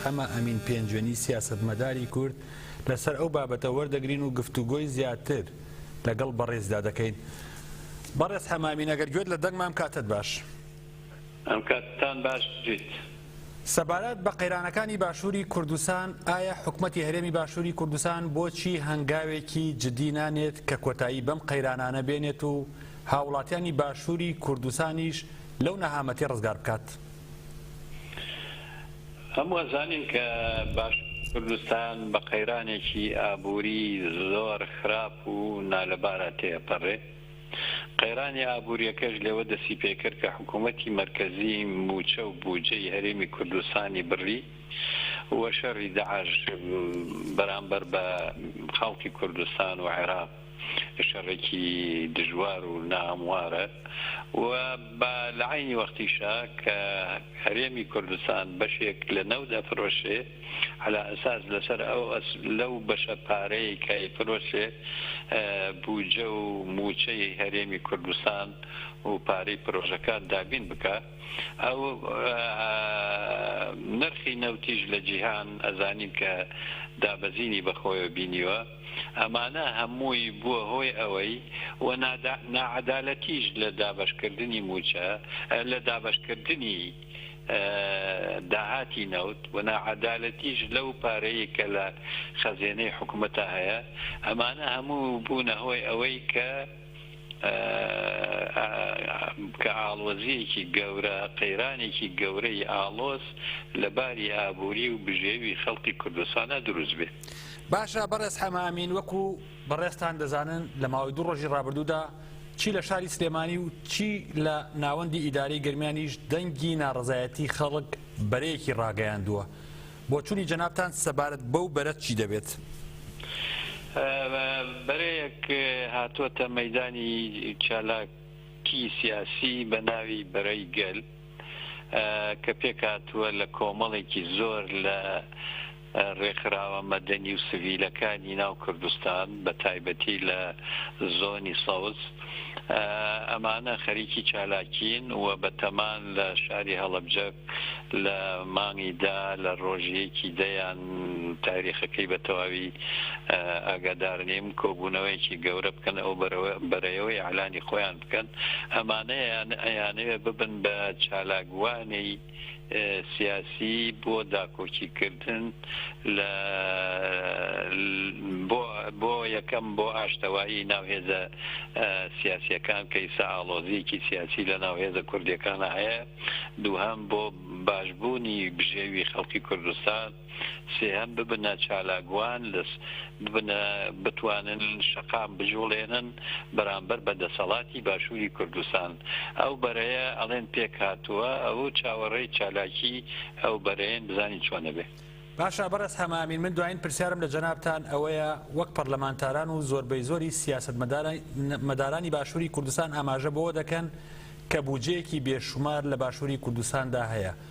ئەمە ئەمین پێنجوێنی سیاسەتمەداری کورد لەسەر ئەو بابەتە وەردەگرین و گفتوگۆی زیاتر لەگەڵ بەڕێزدا دەکەین بەڕێز حەمامین ئەگەر گوێت لە دەنگمام کاتت باش ئەم کاتتان باش بێت. سەبارەت بە قەیرانەکانی باشووری کوردستان ئایا حکومەتی هەرێمی باشووری کوردستان بۆچی هەنگاوێکی جدی نانێت کە کۆتایی بەم قەیرانانە بێنێت و هاوڵاتیانی باشووری کوردستانیش لەو نەهامەتی ڕزگار بکات؟ هەموو ئەزانین کە باشووری کوردستان بە قەیرانێکی ئابووری زۆر خراپ و نالەبارا تێئەپەڕێ، قەیرانی ئابووریەکەش لەوە دەستی پێکرد کە حکوومەتی مەرکەزی مووچە و بووجەی هەرێمی کوردستانی بڕی و شەڕی داعش بەرامبەر بە خەڵکی کوردستان و عێراق، شەڕێکی دژوار و ناهەموارە و با لە عەینی وەختیشا کە هەرێمی کوردستان بەشێک لە نەوت ئەفرۆشێ عەلا ئەساس لەسەر ئەو لەو بەشە پارەی کە ئەیفرۆشێ بوجە و موچەی هەرێمی کوردستان و پارەی پرۆژەکان دابین بکا ئەو نرخی نەوتیش لە جیهان ئەزانین کە دابەزینی بەخۆیەوە بینیوە. ئەمانە هەمووی بووە هۆی ئەوەی و ناعەدالەتیش لە دابەشکردنی مووچە، لە دابەشکردنی داهاتی نەوت و ناعەدالەتیش لەو پارەی کە لە خەزێنەی حکومەتا هەیە، ئەمانە هەموو بوونە هۆی ئەوەی کە. کە ئاڵۆزییەکی گەورە، قەیرانێکی گەورەی ئاڵۆز لە باری ئابووری و بژێوی خەڵکی کوردستاندا دروست بێ. باشە بەڕێز حەمە ئەمین وەکو بەڕێزتان دەزانن لە ماوەی دوو ڕۆژی ڕابردوودا چی لە شاری سلێمانی و چی لە ناوەندی ئیدارەی گەرمیانیش دەنگی ناڕەزایەتی خەڵک بەرەیەکی ڕاگەیاندووە، بۆچونی جەنابتان سەبارەت بەو بەرە چی دەبێت؟ بەرەیەک هاتووەتە مەیدانی چالاکی سیاسی بە ناوی بەرەی گەل کە پێکهاتووە لە کۆمەڵێکی زۆر لە رێکخراوە مەدەنی و سڤیلەکانی ناو کوردستان بە تایبەتی لە زۆنی سەوز، ئەمانە خەریکی چالاکین و بە تەمان لە شاری هەڵەبجە لە مانگی دا لە ڕۆژی یەکی دەیان تاریخەکەی بە تەواوی ئاگادار نیم کۆبوونەوەیەکی گەورە بکەن ئەو بەرەیەوەی ئەلانی خۆیان بکەن ئەمانەیان ئەیانەوێ ببن بە چالاکوانی سیاسی بۆ داکۆکی کردن لە بۆ بۆ یەکەم بۆ ئاشتەوایی ناو هێزە سیاسیەکان کە ئیستا ئاڵۆزیەکی سیاسی لە ناو هێزە کوردیەکانا هەیە دووهەم بۆ باشبوونی بژێوی خەڵکی کوردستان سێهەم ببنە چالاکوان لە ببنە بتوانن شەقام بجوڵێنن بەرامبەر بە دەسەڵاتی باشوری کوردستان ئەو بەرەیە ئەڵێن پێکهاتوە ئەوە چاوەڕێی چالاکی ئەو بەرەیەن بزانین چۆن ئەبێ. باشە بەڕێز حەمامین من دوایین پرسیارم لە جەنابتان ئەوەیە وەک پەرلەمانتاران و زۆربەی زۆری سیاسەت مەدارانی باشوری کوردستان ئاماژە بەوە دەکەن کە بوجەیەکی بێشومار لە باشوری کوردستاندا هەیە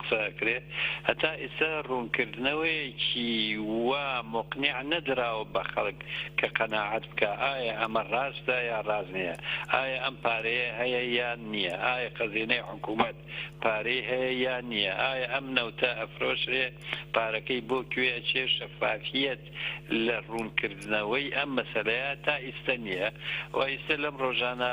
قسە ئەکرێ هەتا ئیستا ڕوونکردنەوەیەکی وا موقنیع نەدراوە بە خەڵک کە قەناعەت بکا ئایا ئەمە ڕاستە یا ڕاست نیە ئایا ئەم پارەیە هەیە یان نیە ئایا خەزینەی حکومەت پارەی هەیە یا نیە ئایا ئەم نەوتە ئەفرۆشرێ پارەکەی بۆ کوێ ئەچێ شەفافیەت لە ڕوونکردنەوەی ئەم مەسەلەیە تا ئیستە نیە و ئیستە لەم ڕۆژانە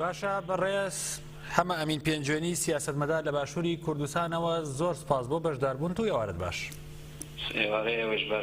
باشە بەڕێز حەمە ئەمین پێنجوێنی سیاسەتمەدار لە باشووری کوردستانەوە زۆر سپاس بۆ بەشداربوونت و ئێوارەت باش. ئێوارەی ئێوەش باش.